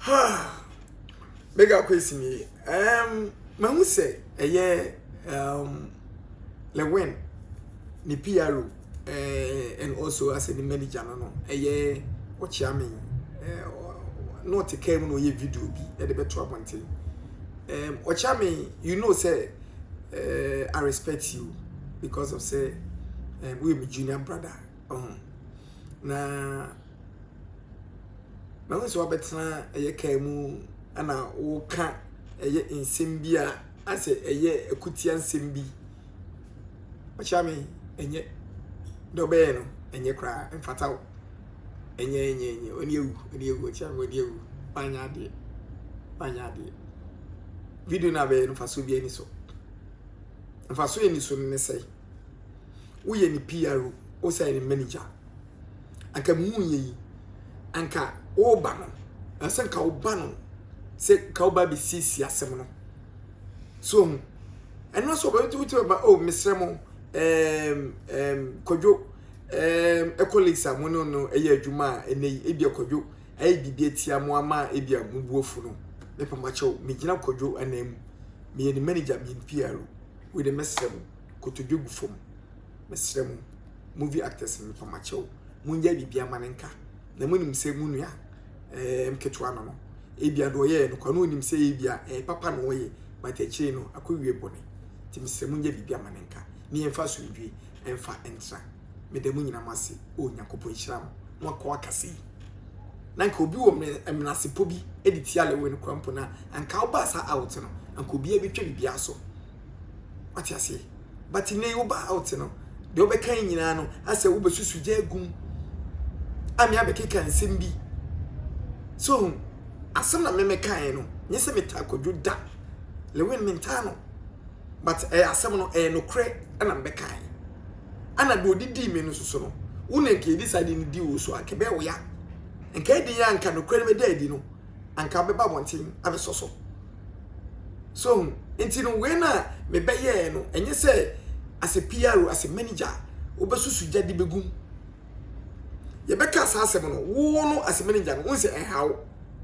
ha mega kwesi mi ɛɛm mahu sɛ ɛyɛ ɛɛm lewin ne pro ɛɛ and also asɛ ne manager no no ɛyɛ ɔkyeame ɛɛ na ɔte kaa mu na ɔyɛ video bi ɛde bɛto abɔnten ɛɛm ɔkyeame you know sɛ ɛɛ i respect you because of sɛ ɛɛm woyɛ mi junior brother. Ɔho. Na mahu sɛ wabɛtena ɛyɛ kaa mu ɛna woka ɛyɛ nsɛm bi a asɛ ɛyɛ akutia nsɛm bi ɔkyɛ me ɛnyɛ dɛ ɔbɛyɛ no ɛnyɛ koraa mfata wo ɛnyɛ ɛnyɛ ɛnyɛ ɔne awu ɔne awu ɔkyɛ me ɔne awu wanyɛ adeɛ wanyɛ adeɛ video no abɛyɛ no mfasoɔ bi ani so mfasoɔ ani so no ne sɛe woyɛ ne PR o, wosan yɛ ne manager. Anka me hu yɛ yi, anka woba no, ansa nka woba no sɛ ka woba bɛsiesie asɛm no. So hu, ɛno nso ɔbɛbɛti wotu bɛba, oh, mesrɛ mo, um, um, kwadwo, um, ɛkɔ lakes a mo ne no ɛyɛ adwuma a ɛnɛ yi, ebi akwadwo, ayɛ biribi atia mo ama ebi a mo buafo no, mepamakyɛw, megyina kwadwo anaa mu, meyɛ ne manager, meyɛ ne PR o. Wei de mɛsrɛ mo, kotodwe gu fam, mɛsrɛ mo, movie actors no mepa mo akyɛw, monyɛ biribiara ma no nka. Na monim sɛ mo nua eh, mketewa no no, ebia deɛ ɔyɛɛ no kwa no onim sɛ ebia eh, papa na ɔyɛ, but akyire no akɔwie bɔne. Nti mesrɛ monyɛ biribiara ma no nka, ne yɛmfa asomdwie. ɛmfa ntra. Meda mo nyinaa mo ase. O Nyankopɔn nhyira mo. Mo akɔ akasa yi. Na nka obi wɔ menasepɔ bi de tia lewe no kora mpo na anka wobaa saa out no anka obiara bɛtwa biribiara so wate aseɛ but nnɛ wobaa out no deɛ wobɛka nyinaa no asɛ wobɛsusu gya agum ame abɛkeka nsɛm bi so hu asɛm na memekaeɛ no nyɛ sɛ metaa kwadwo da lewe no mentaa no but ɛyɛ asɛm no ɛyɛ nokorɛ ɛna me bɛkae ɛna deɛ ɔde dii me no nso so no wo na nka yɛdi saa de no di wo so a nka ɛbɛyɛ wo ya nka ɛdi yɛ a nka nokorɛ no bɛda adi no anka bɛba abɔnten abɛsɔ so so hu nti no wei na mebɛyɛɛ no ɛnyɛ sɛ as a PR as a manager wobɛsusu gya de bɛgum Yɛbɛka saa asɛm no, wo no Asemenegya no, wohu sɛ ɛnha wo.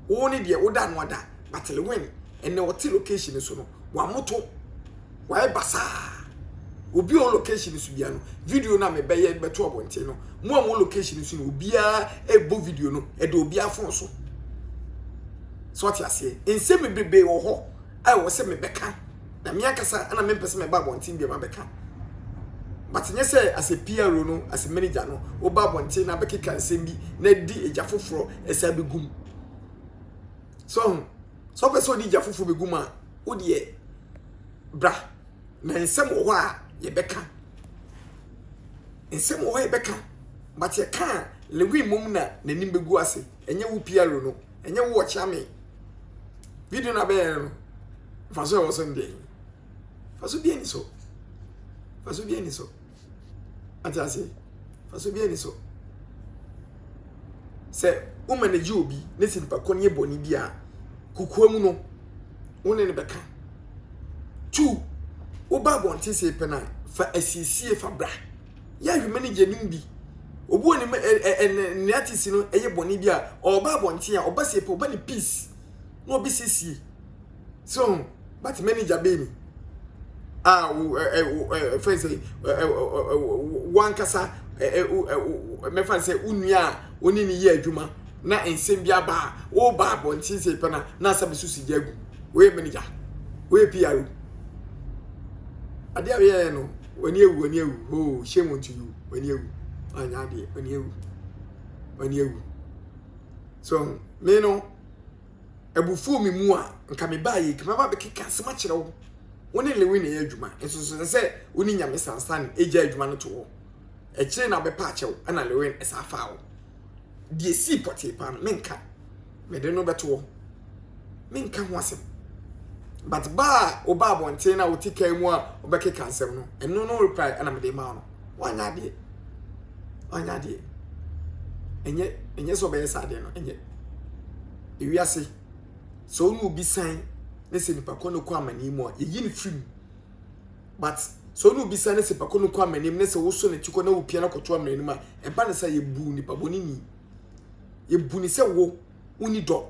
Wo ne deɛ woda ano ada, but Lewin, ɛnnɛ ɔte location no so no, wamoto, wayɛ basaa. Obi a ɔwɔ location no so biara no, video no a mebɛyɛ de bɛto abɔnten no, mo a mo location no so no, obiara ɛbɔ video no, ɛda obiara phone so. So ɔte aseɛ, nsɛm bebrebe wɔ hɔ. a ɛwɔ sɛ mebɛka na me ankasa na mempɛ sɛ meba abɔnten biom abɛka but nyɛ sɛ as a PRO no as a manager no woba abɔnten na bɛkeka nsɛm bi na adi agya foforɔ ɛsɛ abɛgum so ho sɛ wopɛ sɛ wode agya foforɔ bɛgum a wodeɛ bra na nsɛm wɔ hɔ a yɛbɛka nsɛm wɔ hɔ a yɛbɛka but yɛka a lewin mmom na n'anim bɛgu ase ɛnyɛ wo PRO no ɛnyɛ wo ɔkyea me video na bɛyɛ no mfaso ɛwɔ so ndeɛ faso bi ani so faso bi ani so ate ase faso bi ani so sɛ wo manage obi ne si nipa kɔ ne yɛ bɔne bi a kukua mu no wo ne ne bɛka two woba abɔnten sɛ pɛ no a fa asiesie fa bra yɛ ahwima no gye no bi. Obi wɔ ne mu ɛ ɛ ɛ ne ne artist no yɛ bɔne bi a, ɔba abɔnten a, ɔba sɛ pɛ ɔba ne peace na ɔbɛsiesie. So ho, but manager bɛn ni? A wo ɛ ɛ wo ɛ ɛ fɛn sɛ ɛ ɛ ɛ wankasa ɛ ɛ wo ɛ wo mɛfa sɛ wo nua a wo ne ne yɛ adwuma na nsɛm bi aba a, woba abɔnten sɛ pɛ na na asɛ bɛso si gya gu. Woyɛ manager, woyɛ PR o. Adeɛ a woyɛɛ no. W'ani awu, w'ani awu, hoo, shame unto you, w'ani awu, anyɛ adeɛ, w'ani awu, w'ani awu. So, me no, abufuo me mu a, nka me baa yɛ nka mɛba bɛkeka asɛm akyerɛ wo. Wo ne Lewi na ɛyɛ adwuma, nso so sɛ wo ne nyame sansan agya adwuma no to hɔ. Ɛkyerɛ na bɛpa akyɛw, ɛna Lewi ɛsa afaa wo. Deɛ sii pɔtee paa no, menka. Mede no bɛto hɔ. Menka ho asɛm. But ba a ɔba abɔnten na ɔte kaa mu a ɔbɛkeka nsɛm no, ɛno no reply ɛna mede maa no. Wanyɛ adeɛ. Wanyɛ adeɛ. Ɛnyɛ ɛnyɛ sɛ ɔbɛyɛ saa adeɛ no. Ɛnyɛ. Ewiase sɛ ɔne obi san ne sɛ nipa kɔ no kɔ amani mu a yɛyi no firi mu. But sɛ ɔne obi san ne sɛ nipa kɔ no kɔ amani mu ne sɛ woso ne ti kɔ na wopia no kɔto amani mu a ɛba ne sɛ yɛbu nipa bɔne ni. yɛbu ne sɛ wo wonni dɔ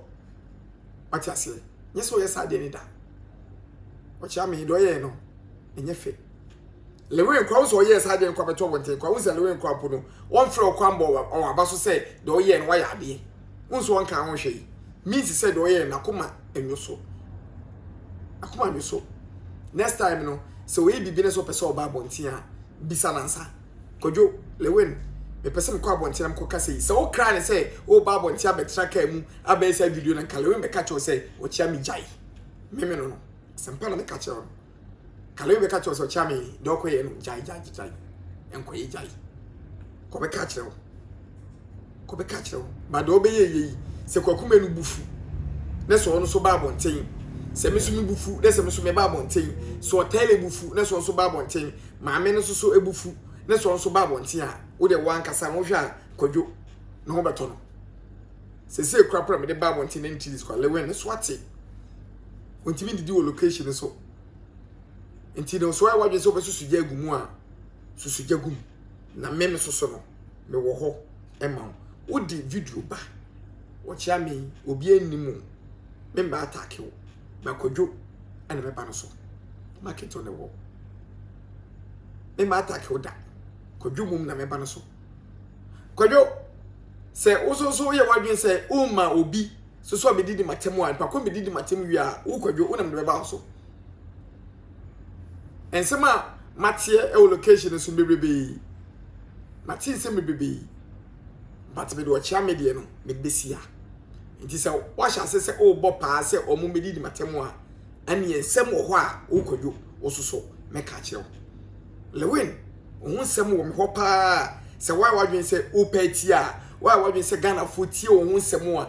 wate aseɛ nyɛ sɛ ɔyɛ saa deɛ ne da ɔkyea me deɛ ɔyɛɛ no ɛnyɛ fɛ lewen kora wo sɛ ɔyɛɛ saa deɛ no kɔ abɛtɔ wo nten kora wo sɛ lewen kora mpo no wɔmfrɛ ɔkɔ ambɔ wɔn aba so sɛ deɛ ɔyɛɛ no wayɛ adeɛ wo nso ɔnka ho hwɛ yi means sɛ deɛ ɔyɛɛ no akoma ɛnwo so akoma ɛnwo so next time no sɛ ɔyɛ biribi no sɛ ɔpɛ sɛ ɔba abɔnten a bisa nansa Kwadwo, Lewin, mepɛ sɛ mekɔ abɔnten na mekɔka sei. Sɛ wokra ne sɛ woreba abɔnten abɛtra kaa mu abɛyɛ saa video no nka Lewin bɛka kyerɛw sɛ ɔkyea me gyae. Meme no no. Asɛmpa na meka kyerɛw no. Ka Lewin bɛka kyerɛw sɛ ɔkyea me dɛ ɔkɔyɛ no gyae gyae gyae. Nkɔyɛ gyae. Kɔbɛka kyerɛw. kɔbɛka kyerɛ wo ba deɛ ɔbɛyɛ yɛ yi sɛ kwaku mɛ no bu fu na sɛ ɔno nso ba abɔnten sɛ me nso me bu fu na sɛ me nso me ba abɔnten sɛ ɔtɛlɛ bu fu na sɛ ɔno nso ba abɔnten maame no nso so ebu fu na sɛ ɔno nso ba abɔnten a wo deɛ wankasa no hwɛ a kwadwo na ho bɛtɔ no sɛ sɛ ekura kura me de ba abɔnten na ne tiri sukwa lewin ne so ate ontimi didi wɔ location no so nti no so ayɛ wadwene sɛ ɔbɛsusu gya agu mu a susu gya gu mu na me no soso no mewɔ hɔ ma wo. Wode video ba, wɔkyea me, obiara nnim o. Memma atake wo, na Kwadwo na mɛba no so. Maketɔ ne wɔ. Memma atake wo da, Kwadwo mmom na mɛba no so. Kwadwo, sɛ wo nso so woyɛ w'adwene sɛ womma obi soso a medidi m'atam a, nipa ko medidi m'atam wie a, wo Kwadwo wo na mede bɛba wo so. Nsɛm a mateɛ wɔ location no so bebrebe. Mate nsɛm bebrebe. But mede ɔkyea me deɛ no mede bɛsi ha. Nti sɛ woahyɛ ase sɛ wobɔ paa sɛ wɔn mmɛdi di matɛm a, ɛneɛ nsɛm wɔ hɔ a wokwadwo wo so so mɛka akyerɛ wo. Lewin, wo ho nsɛm wɔ me hɔ paa. Sɛ woayɛ w'adwene sɛ wopɛ atia a, woayɛ w'adwene sɛ Ghanafoɔ tie wo ho nsɛm a,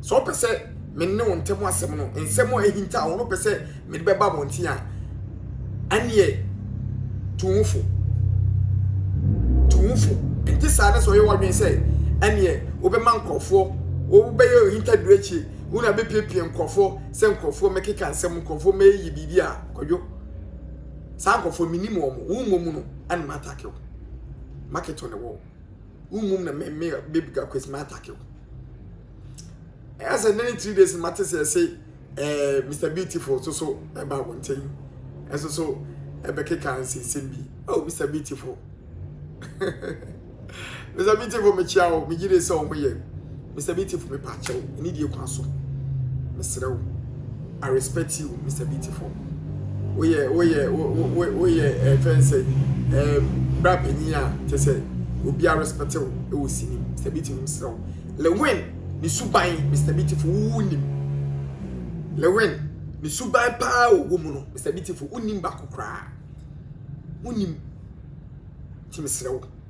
Sɛ ɔpɛ sɛ me ne wo ntam asɛm no, nsɛm a ahinta a wɔn pɛ sɛ mede bɛba abɔnten a, ɛneɛ tu wo fo. Tu wo fo. Nte saa ne sɛ ɔyɛ w'adwene sɛ ɛneɛ wobɛma nkurɔfoɔ wobɛyɛ ohintaduro akyire wo na bɛpiepie nkurɔfoɔ sɛ nkurɔfoɔ mɛkeka nsɛm nkurɔfoɔ mɛyɛ biribi a kwadwo saa nkurɔfoɔ menim wɔn wo mmom no ɛna matake wo maketo ne wɔ Wonwom na me me baby girl kwesi ma attack wo. Ɛyɛ sɛ nene three days ma te sɛ ɛse ɛɛ Mr Beautiful so so ɛba wo nkyɛn ɛso so ɛbɛkeka nsensɛm bi. Oh Mr Beautiful. Mr Beautiful mekyia wo megye de sɛ ɔmo yɛ. Mister Beautiful me pa kyɛw anidie kwan so me serɛ wo I respect you Mister Beautiful woyɛ woyɛ woyɛ ɛfɛn sɛ ɛɛ bra panyin a kyɛ sɛ obi a respect wo ɛwɔ sini Mister Beautiful me serɛ wo Lewin ne suban Mister Beautiful wo wo nim Lewin ne suban paa wɔ wɔ mu no Mister Beautiful wo nim baako koraa wo nim ti me serɛ wo.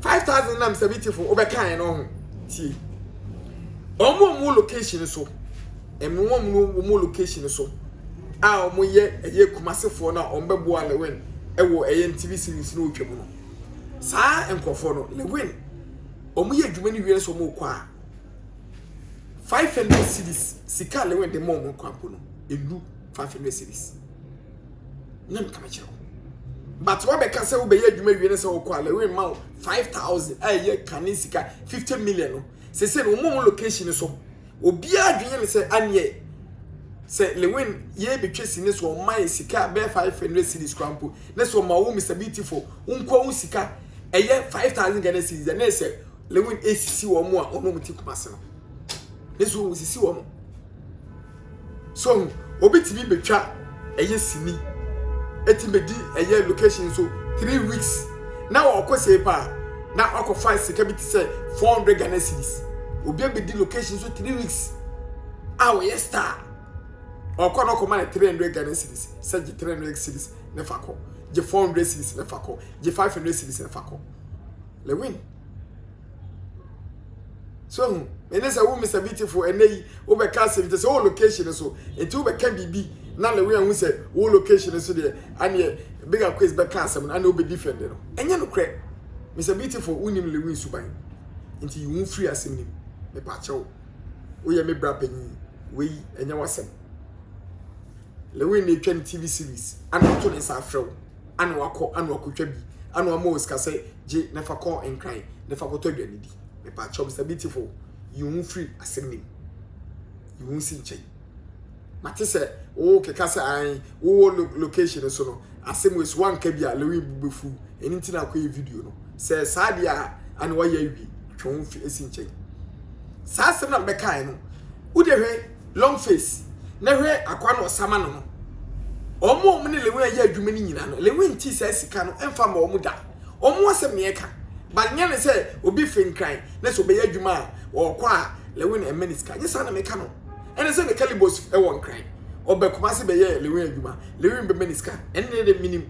five thousand nam seventy four wobɛka yɛn ɔho tie wɔn wɔn mu location so ɛmu wɔn mu wɔn mu location so a wɔn yɛ ɛyɛ kumasefoɔ no a wɔn bɛboa lewin ɛwɔ ɛyɛ tv series no otwa mu no saa nkurɔfoɔ no lewin wɔn yɛ adwuma no wie nso wɔn kɔ a five hundred series sika lewin de ma wɔn kɔ mpo no elu five hundred series. na meka mekyerɛ wo but wabɛka sɛ wobɛyɛ adwuma wie no sɛ wokɔ a lɛwe ma wo 5000 a ɛyɛ kane sika 50 million no sese no wɔn location no so obiara adwene ne sɛ aneɛ sɛ lewin yɛ betwa si ne so ɔma yɛ sika a bɛyɛ 500 series kora mpo ne so ɔma wo mr beautiful wonkɔ wo sika ɛyɛ 5000 ghana series na ɛsɛ lewin esisi wɔn a ɔno mu ti kuma se no ne so wɔn sisi wɔn So hu, obi tumi betwa ɛyɛ sini, etumi bedi ɛyɛ location so three weeks na ɔkɔ sei paa na wakɔfa sika bi te sɛ four hundred Ghana cedis. Obi abedi location so three weeks a ɔyɛ star. Ɔkɔ na ɔkɔma no three hundred Ghana cedis sɛ gye three hundred cedis na fa kɔ, gye four hundred cedis na fa kɔ, gye five hundred cedis na fa kɔ. Lewin. so hu ɛne sɛ wo mr beautiful ɛnɛ yi wobɛka asɛm te sɛ wo location no so nti wobɛka biribi na lewe ahu sɛ wo location no so deɛ aneɛ bigger quiz bɛka asɛm no aneɛ wobɛdi fɛnde no ɛnyɛ nokorɛ mr beautiful wonim lewe nsuban nti yi wo firi asɛm no mu mepaakyɛ wo woyɛ me bra panyin wei ɛnyɛ wasɛm lewe na ɛtwa ne tv series ana ɔto ne nsa afrɛ wo ana wakɔ ana wakɔtwa bi ana wama wɔ sika sɛ gye na fa kɔ nkran na fa kɔtɔ aduane di mepakyɛw Mister Beautiful yi wo ho firi asɛm no mu yi wo ho si nkyɛn mate sɛ wo keka sɛ an wo wɔ location no so no asɛm wɔ so wanka bi a Lewin bu bɛfuru ɛni nti na akɔyɛ video no sɛ saa deɛ a ana wayɛ awie twe wo ho fi si nkyɛn saa asɛm na mbɛkae no wode hwɛ Long face na hwɛ akoa no ɔsama no no wɔn a wɔne Lewin ayɛ adwuma no nyina no Lewin nte saa sika no mfa mma wɔn da wɔn asɛm na yɛka but nyɛ ne sɛ obi firi nkran na sɛ ɔbɛyɛ adwuma a ɔkɔ a Lewin mma ne sika nyɛ saa na meka no ɛne sɛ ne kalibos wɔ nkran ɔba Kumasi bɛyɛ Lewin adwuma Lewin bɛma ne sika ɛne ne de menim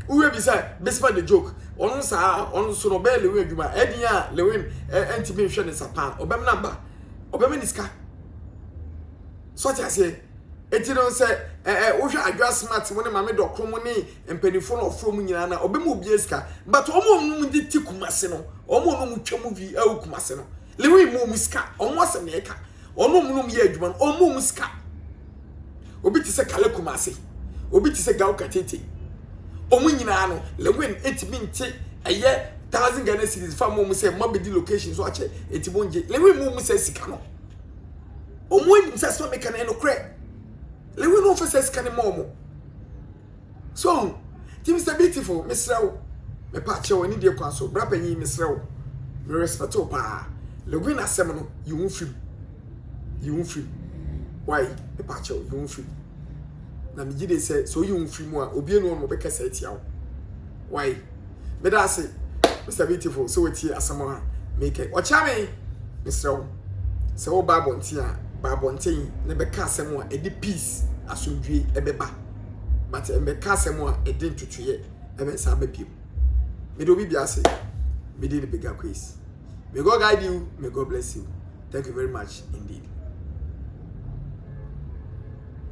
wohwɛ bi sɛ Bisma the joke ɔno saa ɔno so no ɔbɛyɛ Lewin adwuma ɛdeɛ a Lewin ɛntumi nhwɛ ne nsa paa ɔbɛm na ba ɔbɛma ne sika so ɔte aseɛ eti no sɛ ɛɛ wohwɛ adwa smart mu ne maame dɔkoro mu ne mpanimfoɔ na ɔforo mu nyinaa na ɔbɛma obiara sika but wɔn a wɔn de ti kumase no wɔn a wɔn twa mu vi ɛwɔ kumase no lewi mu wɔn sika wɔn asɛm na ɛka wɔn a wɔn yɛ adwuma no wɔn mu wɔn sika. obi te sɛ Kale Kumase, obi te sɛ Gao Katete. Wɔn nyinaa no, Lewin etimi nte ɛyɛ thousand Ghana cedis fa mo mu sɛ mo abɛdi location so akyɛ eti mo ngye. Lewin mo mu sɛ sika no. Wɔn anim sɛ asɛm a meka no ɛnokorɛ. Lewin no nfa sɛ sika no ma wɔn. So ho? Nti Mister Beautiful, mesrɛ wo, mepa kyɛw, anidie kwan so, bra panyin, mesrɛ wo, me respect wo paa, Login asɛm no, yi wo ho firi mu, yi wo ho firi mu, wai, mepa kyɛw, yi wo ho firi mu, na me gye den sɛ, sɛ oyi wo ho firi mu a, obie no hɔ nom ɔbɛkasa atia wo, wai, meda ase, Mister Beautiful, sɛ watie asɛm a mekɛ, ɔkyea me, mesrɛ wo, sɛ wo ba abɔnten a, ba abɔnten na bɛka asɛm a ɛde peace, asomdwie, ɛbɛba. but mmɛka asɛm a ɛde ntutuiɛ ɛbɛsa aba bio mede obi bia ase mede ne bigger grace may God guide you may God bless you thank you very much indeed